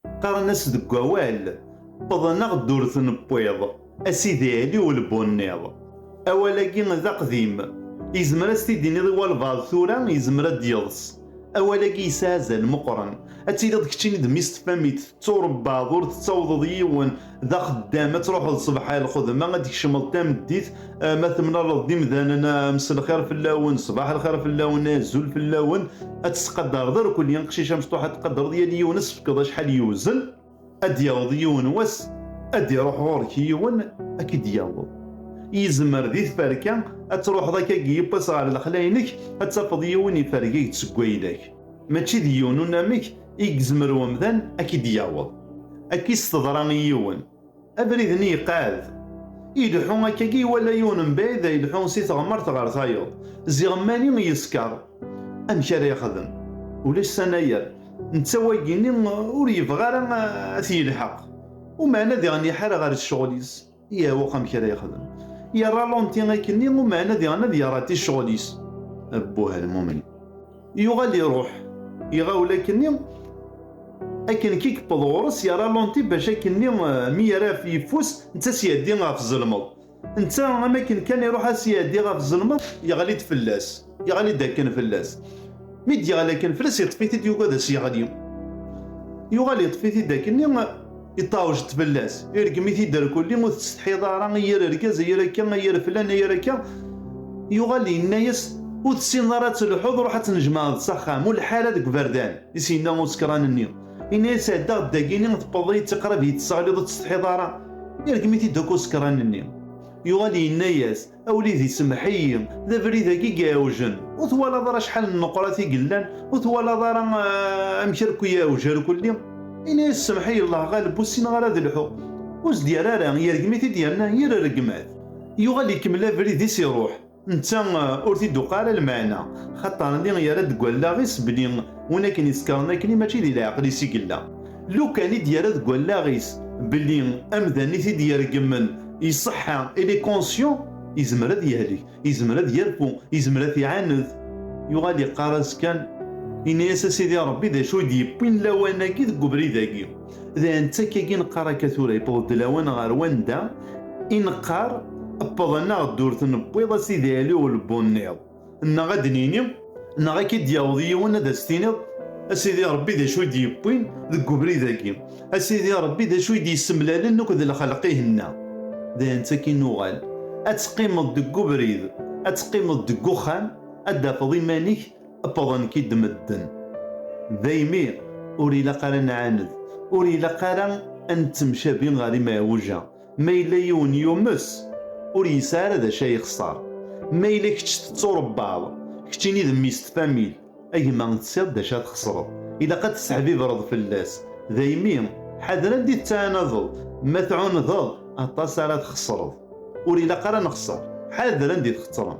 Qqaren-as deg wawal, wwḍen-aɣ-d ur t-newwiḍ, a Sidi Ɛli Ulbunniḍ. Awal-agi d aqdim, yezmer ad s-t-id-tiniḍ i walbaɛḍ tura, yezmer ad d-yeḍs. Awal-agi yesɛa azal meqqren. Ad tiliḍ keččini d mmi-s tfamit, tetturebbaḍ, ur tettawḍeḍ yiwen, d axeddam ad truḥeḍ ṣṣbeḥ ar lxedma ad d-tkecmeḍ tameddit ma temlaleḍ d imdanen mselxir fell-awen ṣṣbeḥ lxir fell-awen azul fell-awen ad tettqadareḍ irkelli aqcic amecṭuḥ ad tqadareḍ yal yiwen ad s-tefkeḍ acḥal yewzen ad d-yaweḍ yiwen wass ad d-iruḥ ɣur-k yiwen ad k-id-yaweḍ yezmer di tferka ad truḥeḍ akka deg yiwwas ɣer lexla-inek ad tafeḍ yiwen ifergag-d seg wayla-k Mačči d yiwen unamek i yezmer umdan ad k-id-yaweḍ. Akkis teḍra i yiwen. Abrid-nni yeqɛed. Ileḥḥu akkagi iwala yiwen mebɛid a ileḥḥu si teɣmert ɣer tayeḍ. Ziɣ mani yeskeṛ. Amek ara yexdem? Ulac s anayer. Netta wagi-nni ur yebɣi ara a t-yelḥeq. Umeɛna diɣen iḥar ɣer ccɣel-is. Iɛewweq amek ara yexdem. Yerra lonti akken i umeɛna diɣen ad yerati ccɣel-is. Abbuh a lmumin. Yuɣal iruḥ. Iɣawel akken-nni. Akken kan i yewweḍ ɣur-s yerra lonti bac akken-nni mi yerra ɣef yeffus netta s-iɛeddi ɣef ẓelmeḍ. Netta am akken kan iruḥ a s-iɛeddi ɣef ẓelmeḍ yeɣli-d fell-as. Yeɣli-d akken fell-as. Mi d-yeɣli akken fell-as, yeṭṭef-it-id yugi ad as-yeɣli. Yuɣal yeṭṭef-it-id akken iṭawjet fell-as, irgem-it-id ar kulli, ur tettsetḥiḍ ara ay yir argaz, ay yir akka, ay yir flan, ay yir akka. Yuɣal yenna-as, ur tessineḍ ara ad telḥuḍ, ruḥ ad tnejmaɛeḍ s axxam, ur leḥḥi ara deg uberdan, i s-yenna usekṛan-nni. Yenna-as, ɛeddaɣ-d dagi-nni, tewwḍeḍ-iyi-d s aqrab, iyi-d-tesseɣliḍ, ur tettsetḥiḍ ara? Irgem-it-id akk usekṛan-nni. Yuɣal yenna-as, A wlidi semmeḥ-iyi, d abrid-agi i iɛewjen, ur twalaḍ ara acḥal n nneqrat i yellan, ur twalaḍ ara amek ara k-iɛewj rkulli? Yenna-yas semmeḥ-iyi Allah ɣaleb ur ssineɣ ara ad lḥuɣ. Ur s-d-yerra ara, yergem-it-id yerna yir rregmat. Yuɣal ikemmel abrid-is iruḥ, netta ur t-id-tuqiɛ ara lmeɛna, xaṭer lli yerra-d deg wallaɣ-is belli win akken isekṛen akkenni mačči di leɛqel-is i yella. lukan i d-yerra deg wallaɣ-is belli amdan i t-id-ireggmen iṣeḥḥa il est conscient izmer ad yehlek izmer ad yerfu izmer ad t-iɛaned yuɣal iqqar-as kan ini-as a sidi rebbi d acu i d-yewwin lawan-agi deg ubrid-agi dayen d takka-agi neqqar akka tura yewweḍ-d lawan ɣer wanda i neqqar wweḍ-aneɣ-d ur t-newwiḍ a sidi ali ur lewweḍ-nniḍ Nneɣ ad d-nini, neɣ ad k-id-yaweḍ yiwen ad as-tiniḍ, A Sidi Ṛebbi d acu i d-yewwin deg ubrid-agi? A Sidi Ṛebbi d acu i d-yessemlalen akk d lxelq-ihenna? D ayen d akin uɣal ad teqqimeḍ deg ubrid, ad teqqimeḍ deg uxxam, ad d-tafeḍ iman-ik wwḍen-k-id medden. Daymi ur ilaq ara ad nɛaned, ur ilaq ara ad nettemcabi ɣer imɛiwja. Ma yella yiwen yumes, ur yesɛi ara d acu ay ixṣer. Ma yella kečč tetturebbaḍ, keččini d mmi-s n tfamil, a gma tesɛiḍ d acu ad txeṣreḍ. Ilaq ad tesseḥbibreḍ fell-as. Daymi, ḥader anda i tettɛanadeḍ. Ma tɛunedeḍ, aṭas ara txeṣreḍ. Ur ilaq ara ad nexṣer. Ḥader anda i txettreḍ.